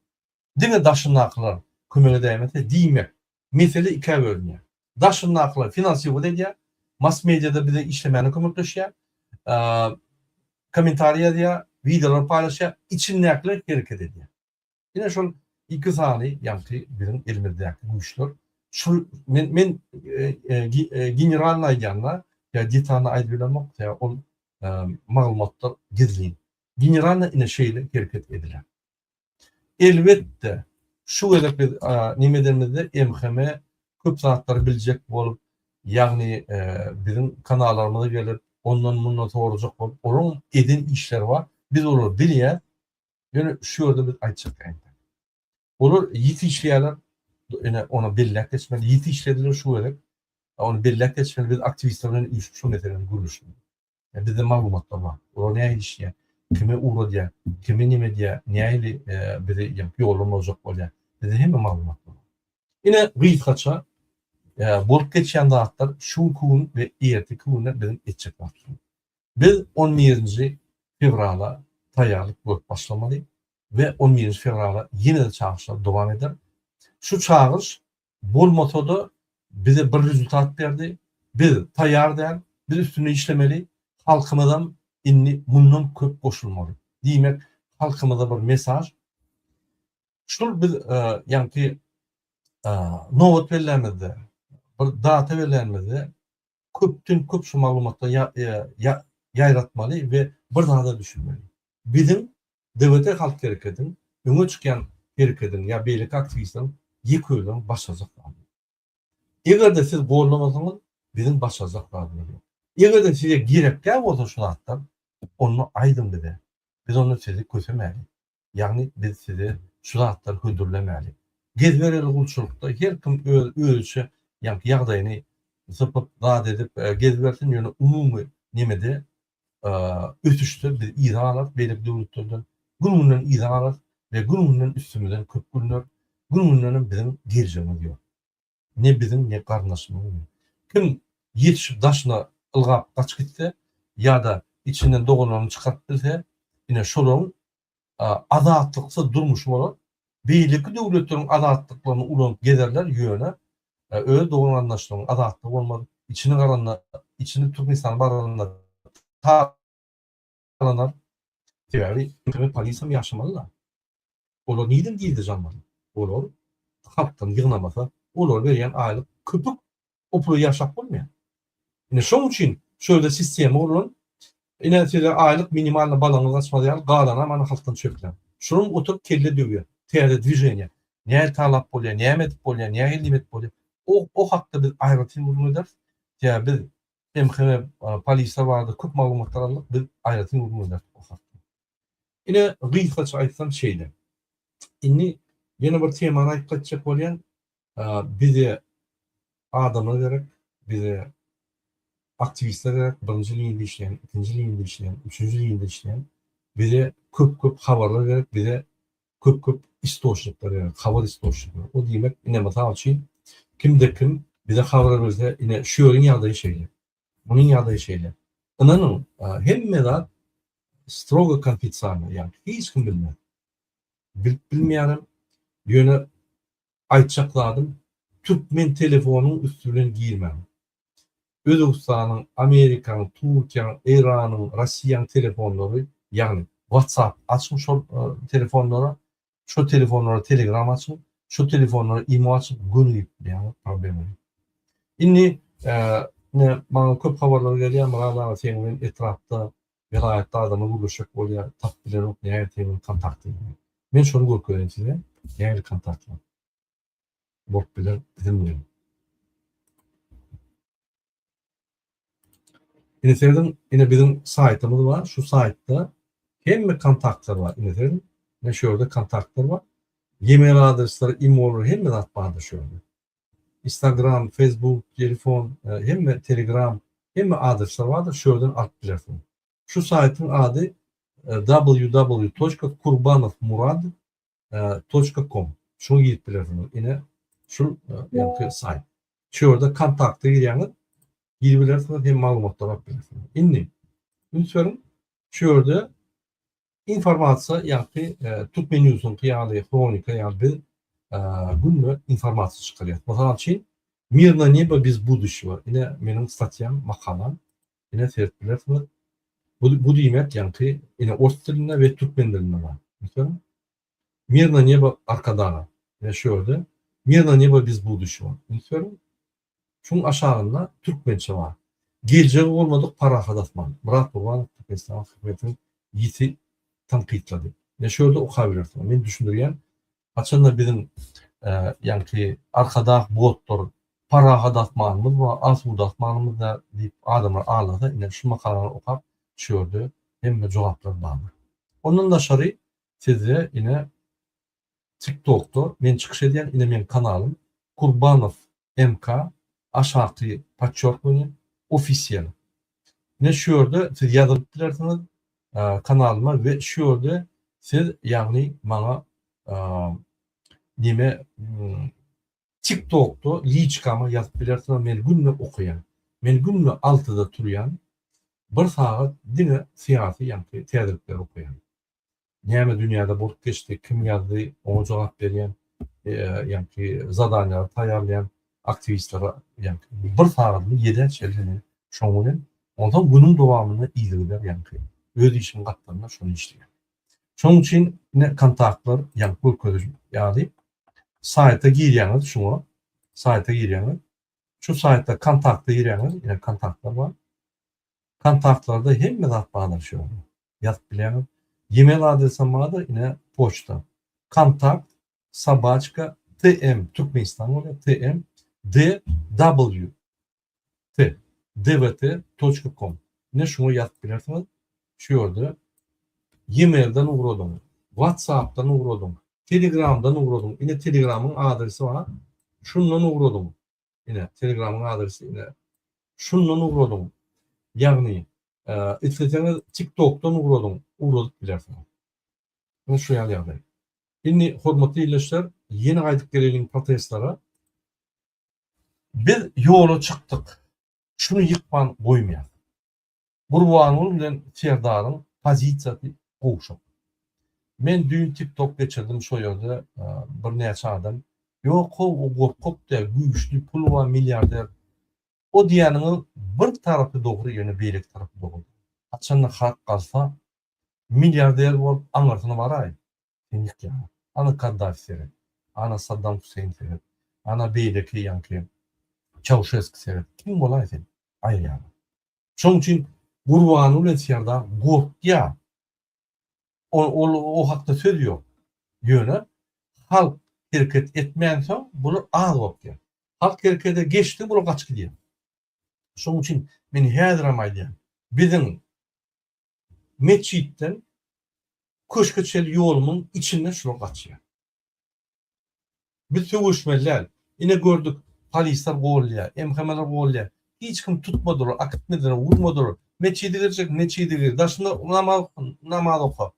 Diňe daşyndakylar kömege dämese diýmek, mesele ikä bölünýär. Daşyndakylar finansiwat edýär, mass-mediada bize işlemäne kömekleşýär, kommentariý ýazýar, wideolar paýlaşýar, içindäkiler hereket edýär. Ine şol iki sany ýagty biziň elimizdäki güýçler. Şu men men generalny aýdýanda ýa detalny aýdyp bilemok sebäbi ol maglumatlar gizlin. Generalny ine şeýle hereket ediler. Elbetde şu gezek biz näme edenimizde MHM köp zatlary biljek bolup ýagny biziň kanallarymyza gelip ondan mundan sorajak bolup olaryň eden işleri bar biz olary bilýäs Ýöne şu ýerde biz aýtjak ýerimiz. Olar ýiti işleýärler. Ine, ony belläp geçmeli. Ýiti işlediler şu gezek. Ony belläp geçmeli. Biz aktiwistler bilen üýşüp şu meseläni gürleşeli. Bizde maglumatlar bar. Olar nähili işleýär? Kime ugradýar? Kime näme edýär? Nähili bizi ýollary bozjak bolýar? Bizde hemme maglumat bar. Ine, gysgaça bolup geçýän zatlar şu gün we erteki günde biziň etjek zatlarymyz. Biz on birinji fewrala taýýarlyk görüp başlamaly we on birinji fewrala ýene-de çagyryşlar dowam eder. Şu çagyryş bolmasa-da bize bir rezultat berdi, biz taýýar däl, biz üstünde işlemeli, halkymyzam indi mundan köp goşulmaly. Diýmek, halkymyza bir mesaž. Şul biz ýaňky nobat bellämizde, bir data belänimizde köpden köp şu maglumatlar ýa ýa ýaýratmaly we bir zada düşünmeli. Biziň DWT halk hereketiň öňe çykýan hereketiň ýa beýleki aktiwistleriň ýeke özüniň başarjak zady ýok. Egerde siz gollamasaňyz biziň başarjak zadymyz ýok. Egerde size gerekkä bolsa şu zatlar onda aýdyň bize biz onda sizi kösemäli. Ýagny biz size şu zatlary hödürlemäli. Gezbereli gulçulykda her kim öz özüçe ýaňky ýagdaýyny sypyp zat edip gezibersin ýöne umumy nemede ösüşde biz yza galarys beýleki döwletlerden gün günden yza galarys we gün günden üstümizden köp gülner gün gündenem biziň geljegimiz ýok. Ne biziň ne garyndaşymyň kim ýetişip daşyna ylgap gaçyp gitse ýa-da içinden doganlaryny çykaryp bilse, ine şolaryň azatlyksyz durmuşy bolar. Beýleki döwletleriň azatlyklaryny ulanyp gezerler, ýöne öz dogan-garyndaşlarynyň azatlygy bolmaz. Içini garanda, içini Türkmenistana baranda ta Alanlar sebäbi internet polisam ýaşamalyda olar nirden gizli janlar olar halkdan ýygnamasa olar berýän aýlyk köpük o pula ýaşap bolmaýar ine şoň üçin şu ýerde sistema gurlan ine size aýlyk minimalny balaňyz gaçmaz ýaly galanam ana halkdan çöplän şuram oturyp kelle döwýär täze dwiženiýa näle talap bolýar näme edip bolýar nähili edip bolýar o o hakda biz aýratyn gürrüň ederis sebäbi biz Hem hene polise bardyk köp maglumatlar aldyk biz aýratyn gürrüň berdik bu hakda. Ine gysgaça aýtsam şeýle. Indi ýene bir temany aýyp gaýtjak bolýan bize adamlar gerek bize aktiwistler gerek birinji linýada işleýän ikinji linýada işleýän üçünji linýada işleýän bize köp köp habarlar gerek bize köp köp istoçnikler ýaly habar istoçnikler o diýmek ine mysal üçin kimde kim bize habar berse ine şu ýeriň ýagdaýy şeýle munuň ýagdaýy şeýle ynanyň hemme zat strogo konfitsialno ýagny hiç kim bilmez bilip bilmeýärem ýöne Aýtjak zadym türkmen telefonyň üsti bilen girmäň. Özbegistanyň, Amerikanyň, Turkiýaň, Eýranyň, Rossiýaň telefonlary, ýagny WhatsApp açyň şol telefonlara, şo telefonlara Telegram açyň, şo telefonlara imo açyp gönügip bilýäňiz problema ýok. Indi ine maňa köp habarlar gelýär Myrat aga seň bilen etrapda Welaýatda adama gürleşjek bolýar, tapyp bilenok nähili tebigy kontakty. Men şony görkezeýin size, nähili kontaktlar bolup biler biziň bilen. Ine serediň, ine biziň saýtymyz bar, şu saýtda hemme kontaktlar bar. Ine serediň, ine şu ýerde kontaktlar bar. Gmail adresleri, imo-lar hemme zat bardyr şu ýerde. Instagram, Facebook, telefon, hemme Telegram, hemme adresler bardyr şu ýerden alyp bilersiň. Şu saýtyň ady www.kurbanovmurad. Com. Şuňa girip bilersiňiz. Ine şul ýaňky saýt. Şu ýerde kontakta girýäňiz. Girip bilersiňiz hem maglumatlary alyp bilersiňiz. Indi üns beriň şu ýerde Informasiýa ýagty Türkmenewsüňki ýaly hronika ýaly biz günde informasiýa çykarýas. Mysal üçin Mir na nebo bez buduçego ine meniň statýam, makalam. Ine serip bilersiňiz. Bu bu diýmek ýagty ine ors dilinde we türkmen dilinde bar. Meselem Mir na nebo Arkadaga. Ine şu ýerde Mir na nebo bez buduçego. Ine şu ýerde Şuň aşagynda türkmençe bar. Geljegi bolmadyk parahat asman. Myrat Gurbanow Türkmenistanyň hökümetini ýiti tankytlady. Ine şu ýerde okabilersiňiz. Men düşündirýän, haçanda biziň ýaňky Arkadag botlar Parahat asmanymyz bar, asuda asmanymyz bar diýip adamlar aglasa, ine şu makalany okap, şu ýerde hemme jogaplar bardyr. Ondan daşary sizde ine tik tokda men çykyş edýän ine meň kanalym Kurbanov MK aşaky podçerkivaniýe ofisiýal ine şu ýerde siz ýazylyp bilersiňiz kanalyma we şu ýerde siz ýagny maňa nime tik tokda liçkama ýazyp bilersiňiz men günde okaýan men günde altyda turýan bir sagat diňe syýasy ýagny täzelikleri okaýan Näme dünýäde bolup geçdi, kim ýazdy, oňa jogap berýän, ýaňky zadanýalary taýýarlaýan aktiwistlere ýaňky bir sagadyny ýedä çenli şoň bilen, onsoň günüň dowamyny yzygider ýaňky öz işiň gapdalynda şony işleýär. Şonuň üçin ine kontaktlar ýaňky görkeziji ýaly saýta girýäňiz şuňa, saýta girýäňiz. Şu saýtda kontakta girýäňiz, ine kontaktlar bar. Kontaktlarda hemme zat baglanyşýar. ýazyp bilýäňiz. Email adresem bardyr, ine, poçta. Kontakt sobaçka TM Türkmenistan bolýar, TM DW T DWT toçka kom. Ine şuňa ýazyp bilersiňiz. Şu ýerde emailden ugradyň, WhatsAppdan ugradyň, Telegramdan ugradyň. Ine Telegramyň adresi bar. Şundan ugradyň. Ine, Telegramyň adresi ine. Şundan ugradyň. Ýagny, e, isleseňiz TikTokdan ugradyň, ugradyp bilersiňiz. Ine şu ýaly ýagdaý. Indi hormatly ildeşler, ýene gaýdyp geleliň protestlere. Biz ýola çykdyk. Şuny ýykman goýmaýar. Gurbanguly bilen Serdaryň pozisiýasy gowşak. Men düýn tiktok geçirdim şo ýerde bir näçe adam ýok how o gorkak däl güýçli puly bar milliarder o diýýäniňiň bir tarapy dogry ýöne beýleki tarapy dogry däl haçanda halk galsa milliarder bolup aňyrsyna baraý Seňik ýaňa. Ana Kaddafi seret. Ana Saddam Huseýn seret. Ana beýleki ýaňky Çauşeski seret. Kim bolaý sen? Aýy ýaly. Şoň üçin Gurbany bilen Serdar gorkýa. Ol o hakda söz ýok. Ýöne halk hereket etmänsoň bular az gorkýa. Halk herekede geçdi bular gaçyp gidýa. Şoň üçin men häzirem aýdýan. Biziň metjitden köşge çenli ýolumyň içinden şular gaçýar. Biz söweşmeli däl. Ine gördük, polisler gollýar, MHM-ler gollýar. Hiç kim tutmadylar, akitmediler, urmadylar. Metjide girjek, metjide gir, daşynda namaz namaz oka.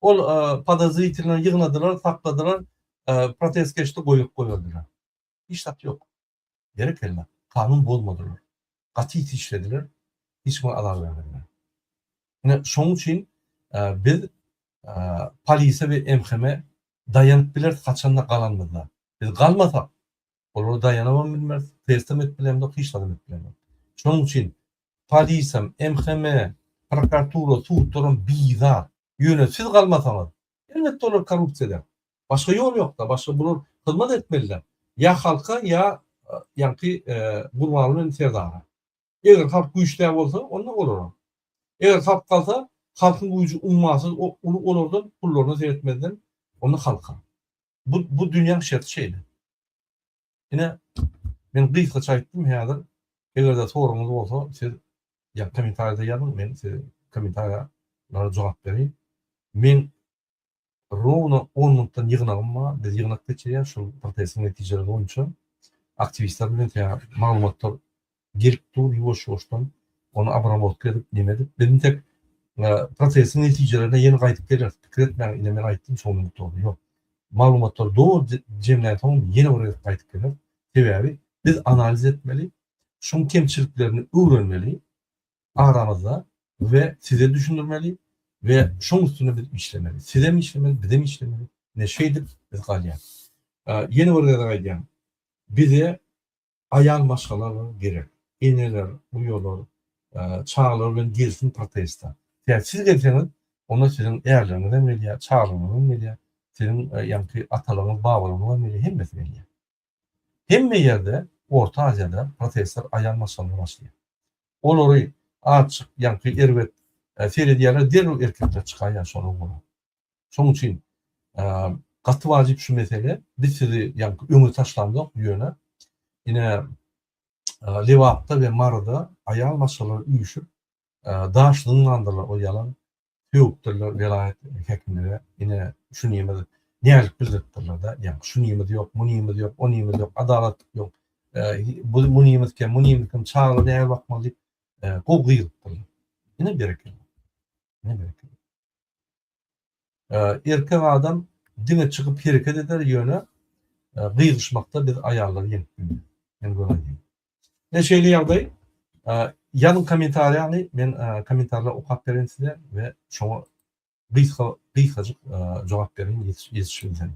Ol podozritelini ýygnadylar, sakladylar, protest geçdi, goýup goýberdiler. Hiç zat ýok. Berekella, kanun bozmadylar. Gaty işlediler, hiç kime azar bermediler. Ine, şonuň üçin biz polise we MHM-e daýanyp bileris haçanda galanymyzda. Biz galmasak, olara daýanybam bilmeris, testem edip bilemzok, hiç zadam edip bilemzok. Şonuň üçin polisem, MHM-e, prokuratura, sudlaram bizar. Ýöne siz galmasaňyz, Elbetde olar korrupsiýada. Başga ýol ýokda, başga bular hyzmat etmeliler ýa halka ýa ýaňky Gurbanguly bilen Serdara. Eger halk güýçdä bolsa onda olara. Eger halk galsa halkyň güýji ummasyz uly olardan pullaryna seretmezden onda halka. Bu bu dünýäň şerti şeýle. Ine, men gysgaça aýtdym, häzir eger-de soragyňyz bolsa, siz ýa kommentariýada ýazyň, men size kommentariýalara jogap bereýin. Men rowno on minutdan ýygnagym bar, biz ýygnak geçirýäs, şol protestiň netijeleri boýunça aktiwistler bilen maglumatlar gelip dur ýuwaş-ýuwaşdan ony abramotka edip neme edip biz intek prosesiň netijelerine ýene gaýdyp geleris pikir etmäň ine men aýtdym şonuň ýokarda ýok maglumatlary doly jemlänsoň ýene bir gezek gaýdyp geleris sebäbi biz analiz etmeli şuň kemçiliklerini öwrenmeli aramyzda we size düşündirmeli we şoň üstünde biz işlemeli sizem işlemeli bizem işlemeli ine şeýdip biz galýas ýene bir gezek aýdýan bize Aýal maşgalalar gerek. Eneler, uýalar, çagalar bilen gelsin protesta. Tä siz gelseňiz, onda siziň ärleriňiz hem gelýär, çagalaryňyz hem gelýär, siziň ýaňky atalaryňyz, babalaryňyz hem gelýär, hemmesi gelýär. Hemme ýerde, Orta Aziýada protestler aýal maşgalalar başlaýar. Olary azçyk ýaňky erbet seredýärler, derrew erkekler çykaýýar şolar bolar. Şonuň üçin gaty wajyp şu mesele. Biz sizi ýaňky öňe taşlamzok, ýöne ine Lebapda we Maryda aýal maşgalalar üýşüp daş zyňandylar o ýalan sögüpdirler welaýat häkimlere ine şu niýmedi näzik bildiripdirler-de ýa şu niýmedi ýok bu niýmedi ýok o niýmedi ýok adalat ýok bu bu niýmedi kem bu niýmedi kem çagala näme bakmaly diýip gowy gyýylypdyrlar ine berekella ine berekella Erkek adam diňe çykyp hereket eder ýöne gygyşmakda biz aýallar ýeňip bilmeris. Men göräýdim. Ine şeýle ýagdaý. Ýazyň kommentariýany men kommentarlary okap bereýin size we şoňa gysga gysgajyk jogap bereýin ýetişibilsem.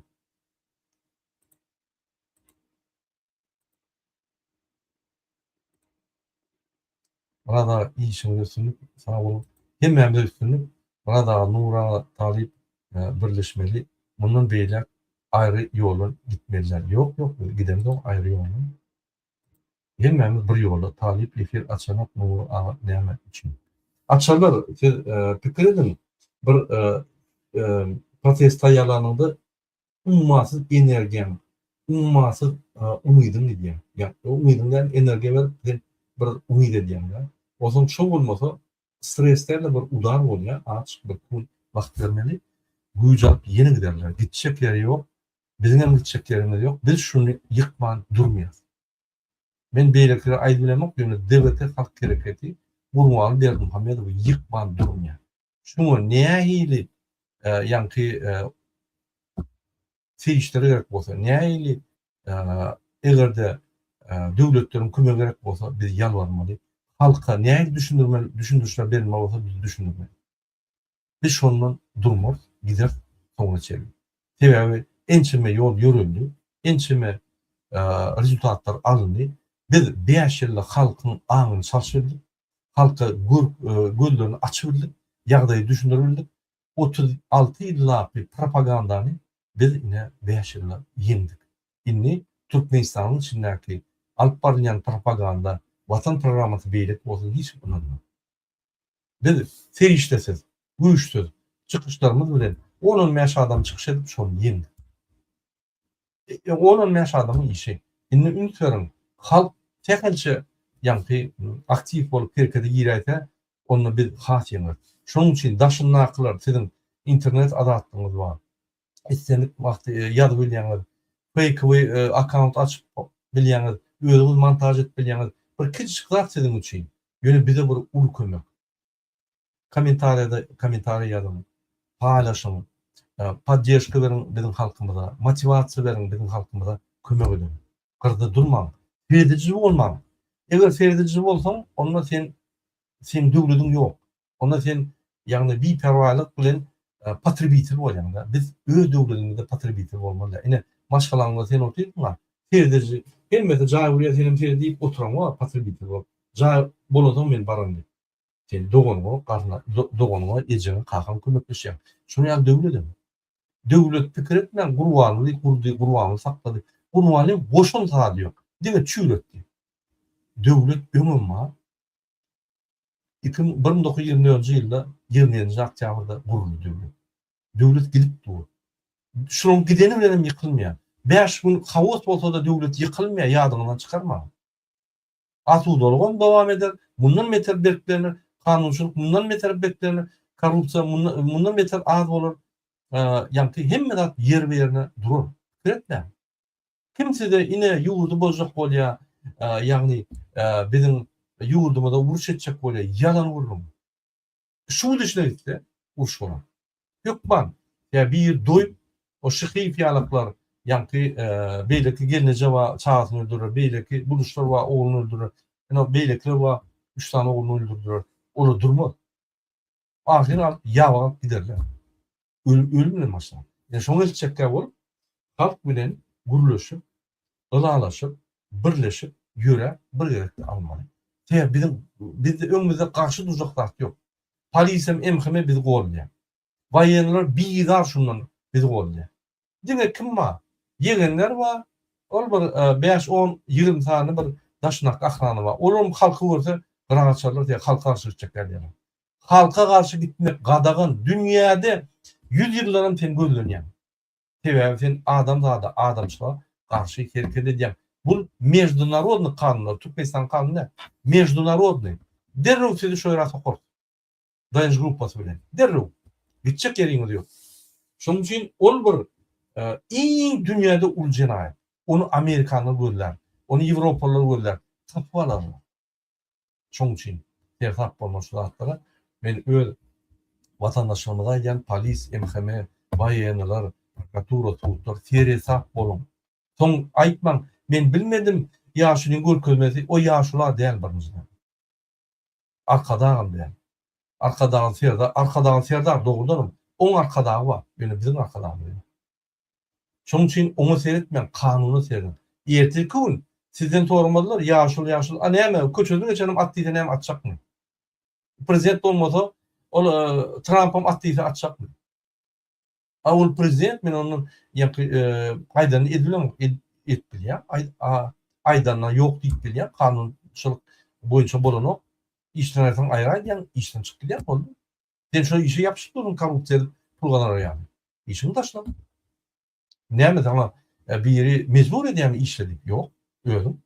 Raza işiňde üstünlik sag bol. Hemmämize üstünlik Raza Nura talyp birleşmeli mundan beýläk aýry ýoldan gitmeli däl ýok ýok biz gidemzok aýry ýoldan hemmämiz bir ýolda talyp efir açanok Nury aga näme üçin açarlar siz pikir ediň bir protest taýýarlanyňda ummasyz energiýaň, ummasyz umydyň gidýär. Ýa-da umydyň däl, energiýa berip, sen bir umyt edýäň-de. Onsoň şo bolmasa, stres däl-de, bir udar bolýar, aç, bir pul, wagt bermeli. Güýç alyp ýene giderler. Gitjek ýeri ýok. Biziň hem gitjek ýerimiz ýok. Biz şuny ýykman durmaýas. Men beýlekilere aýdyp bilemok, ýöne DBT halk hereketi Gurbanguly Berdimuhamedowy ýykman durmaýar. Şuňa nähili ýaňky serişdeler gerek bolsa, nähili eger-de döwletleriň kömegi gerek bolsa, biz ýalbarmaly. Halka nähili düşündirmeli, düşündirişler berilmeli bolsa, biz düşündirmeli. Biz şondan durmarys, gideris soňuna çenli. Sebäbi ençeme ýol ýöreldi, ençeme rezultatlar alyndy. Biz bäş ýylda halkyň aňyny çalşyrdyk, halka görk gözlerini açy bildik, ýagdaýy düşündiri bildik. Otuz alty ýyllapy propagandany biz ine bäş ýylda ýeňdik. Indi Türkmenistanyň içindäki alyp barylýan propaganda, Watan programmasy beýleki bolsa hiç kim ynanmaz. Biz serişdesiz, güýçsüz çykyşlarymyz bilen on-on bäş adam çykyş edip şony ýeňdik. E, on on bäş adamyň işi. Indi üns beriň, halk sähelçe ýaňky aktiw bolup herkede giräýse, onda biz has ýeňeris. Şonuň üçin daşyndakylar siziň internet azatlygyňyz bar. Islendik wagty e, ýazyp bilýäňiz. Feýkowy e, akkaunt açyp bilýäňiz, özüňiz montaž edip bilýäňiz. Bir kiçijik zat siziň üçin. Ýöne bize bir uly kömek. Kommentariýada kommentariý ýazyň, paýlaşyň, poddežka beriň biziň halkymyza, motiwasiýa beriň biziň halkymyza kömek ediň. Gyrda durmaň. Serediji bolmaň. Eger serediji bolsaň, onda sen seniň döwlediň ýok. Onda sen ýagny biperwaýlyk bilen potrebitel bolýaňda. Biz öz döwledimizde potrebitel bolmaly. Ine maşgalaňda sen otyrsyňa serediji hemmesi jaý gurýa senem seret diýip oturaňa potrebitel bolup. Jaý bolansoň men baran diýip. Sen doganyňa, garna, doganyňa, ejeňe, kakaňa kömekleşýäň. Şonuň ýaly döwledem. Döwlet pikir etmän Gurbanyny gurdy, Gurbanyny saklady. Gurbanyň goşan zady ýok. Diňe çüýretdi. Döwlet öňem bar. Iki müň, bir müň dokuz ýüz ýigrimi dördünji ýylda ýigrimi ýedinji oktýabrda guruldy döwlet. Döwlet gidip dur. Şonuň gideni bilenem ýykylmaýar. Bäş gün haos bolsa-da döwlet ýykylmaýar, ýadyňyzdan çykarmaň. Asudalygam dowam eder, mundan beter berklener, kanunçylyk mundan beter beklener, korrupsiýa mundan beter az bolar, ýagty hemme zat ýerbe-ýerine durar. Pikir etmäň. Kim size ine ýurdy bozjak bolýa, ýagny biziň ýurdumyza uruş etjek bolýa, ýalan gürrüň. Şu gün içine gitse, uruş bolar. Hökman, ýa bir doýup, o şyhyf ýalaklar, ýaňky beýleki gelneje bar, çagasyny öldürer, beýleki buluşlar bar, ogluny öldürer, ine, beýlekiler bar, üç sany ogluny öldürdiler. Olar durmaz. Ahyry alyp, ýabagyp giderler. Öl-öl bilen başlap. Ýa şoňa eltjekkä bolup, halk bilen gürleşip, ylalaşyp, birleşip ýöräp, bir gezekde almaly. Sebäbi biziň, bizde öňümizde garşy durjak zat ýok. Polisem, MHM bizi goldaýar. Waýenler bizar şundan, bizi goldaýar. Diňe kim bar? Ýegenler bar, ol bir bäş, on, ýigrimi sany bir daşyndaky ahrana bar. Olaram halky görse, gyraga çalarys ýa halky garşy gitjekler diýerler. Halka garşy gitmek gadagan dünýäde ýüz ýyllaram sen gözlenýäň. Sebäbi sen adamzada, adamçylyga garşy hereket edýäň. Bul meždunarodny kanunlar, Türkmenistanyň kanuny däl. Meždunarodny. Derrew sizi şo ýere sokarys. DNJ gruppasy bilen. Derrew. Gitjek ýeriňiz ýok. Şonuň üçin ol bir iň dünýäde uly jenaýat. Ony amerikanlar gözlär. Ony ýewropalylar gözlär. Tapyp alarlar. Şoň üçin sersap bolma şu zatlara. Men öz watandaşlarymyza aýdýan polis, MHM, waýenniler, prokuratura, sudlar seresap boluň. Soň aýtmaň, men bilmedim, ýaşulyň görkezmesi o ýaşula däl birinjiden. Arkadagam däl. Arkadagyň Serdar, Arkadagyň Serdar dogrudanam oň arkadagy bar, ýöne biziň arkadagymyz ýok. Şonuň üçin oňa seretmäň, kanuna serediň. Ertirki gün sizden soramazlar, ýaşuly, ýaşuly, a näme, köçeden geçenem at diýse näme atjakmy? Prezident bolmasa, ol Trampam at diýse atjakmy? A ol prezident, men ondan ýaňky aýdanyny edip bilemok, edip bilýän, aýdanyna ýok diýip bilýän, kanunçylyk boýunça bolanok, işden aýrsaň aýra aýdýaň, işden çykyp gidýän, boldy. Sen şo işe ýapyşyp durdyň korrupsiýa edip pul gazanar ýaly. Işiňi taşla. Näme saňa biri mejbur edýärmi işle diýip? Ýok, özüň.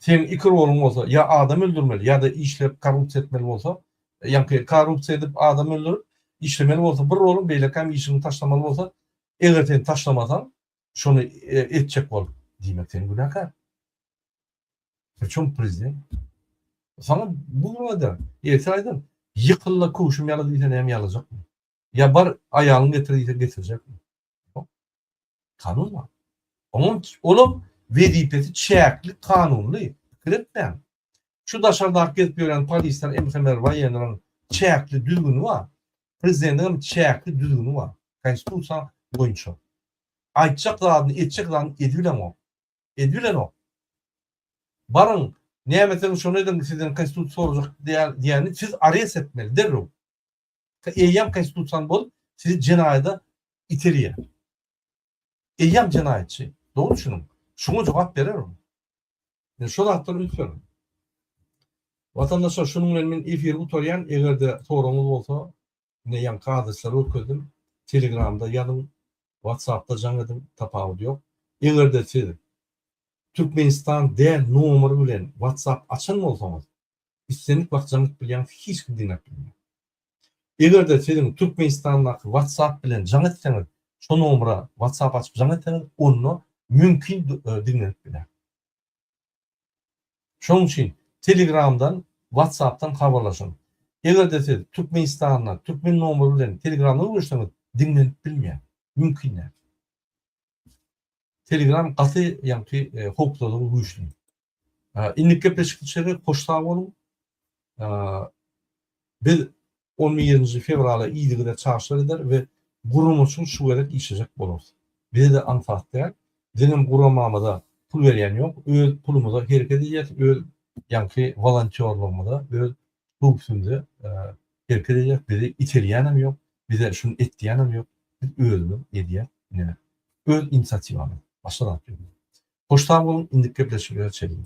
Seniň iki roluň bolsa, ýa adam öldürmeli, ýa-da işlep korrupsiýa etmeli bolsa, ýa-ki korrupsiýa edip adam öldürip işlemeli bolsa bir roluň, beýlekäm işiňi taşlamaly bolsa, eger sen taşlamasaň, şony etjek bol. Diýmek sen günäkär. Çuň prezident. Sana bu günada ýetse aýdan ýykylda köwşüm ýala diýse näme ýalajakmy? Ýa bar aýalyň getir diýse getirjekmi? Kanun bar. Onuň olam wezipesi çäkli kanunly. Pikir etmäň. Şu daşardaky gezip ýören polisler MHMR waýenleriň çäkli düzgüni bar. Prezidentiň hem çäkli düzgüni bar. Konstitusiýa boýunça. Aýtjak zadyny, etjek zadyny edibileňok. edibilenok. Baryň, näme etseňiz şony ediň, sizden Konstitusiýa sorajak diýeni siz arest etmeli, derrew. Eýýäm Konstitusiýany bozup, sizi jenaýada iterýär. Eýýäm jenaýatçy. Dogry düşüniň. Şuňa jogap berer ol. Men şo zatdan üns berdim. Watandaşlar, şunuň bilen men efiri gutarýan. Eger-de soragyňyz bolsa, Ine ýaňky adresleri görkezdim. Telegramda ýazyň, Whatsappda jaň ediň, tapawudy ýok. Eger-de siz Türkmenistan däl nomer bilen Whatsapp açan bolsaňyz, islendik wagt jaň edip bilýäňiz, hiç kim diňläp bilmeýär. Eger-de siziň Türkmenistandaky Whatsapp bilen jaň etseňiz, şo nomera Whatsapp açyp jaň etseňiz, onda mümkin diňlenip biler. Şonuň üçin Telegramdan, Whatsappdan habarlaşyň. Eger-de siz Türkmenistanda türkmen nomeri bilen Telegramda gürleşseňiz, diňlenip bilmeýär. Mümkin däl. Telegram gaty ýaňky howpsuzlygy güýçli. Indiki gepleşikçilere hoş sag boluň. Biz On birinji fewrala yzygider çagyşlar eder we guramaçyl şu gezek işlejek bolarys. Bize-de aňsat däl. Biziňem guramamyza pul berýän ýok. Öz pulumyza hereket edýäs, öz ýaňky wolontýorlygymyza, öz howpsuzymyza hereket edýäs. Bizi iterýänem ýok, bize şuny et diýýänem ýok. Biz özümiz edýäs neneň. Öz inisiatiwamyz. Başga zat ýok. Hoş sag boluň, indiki gepleşiklere çenli.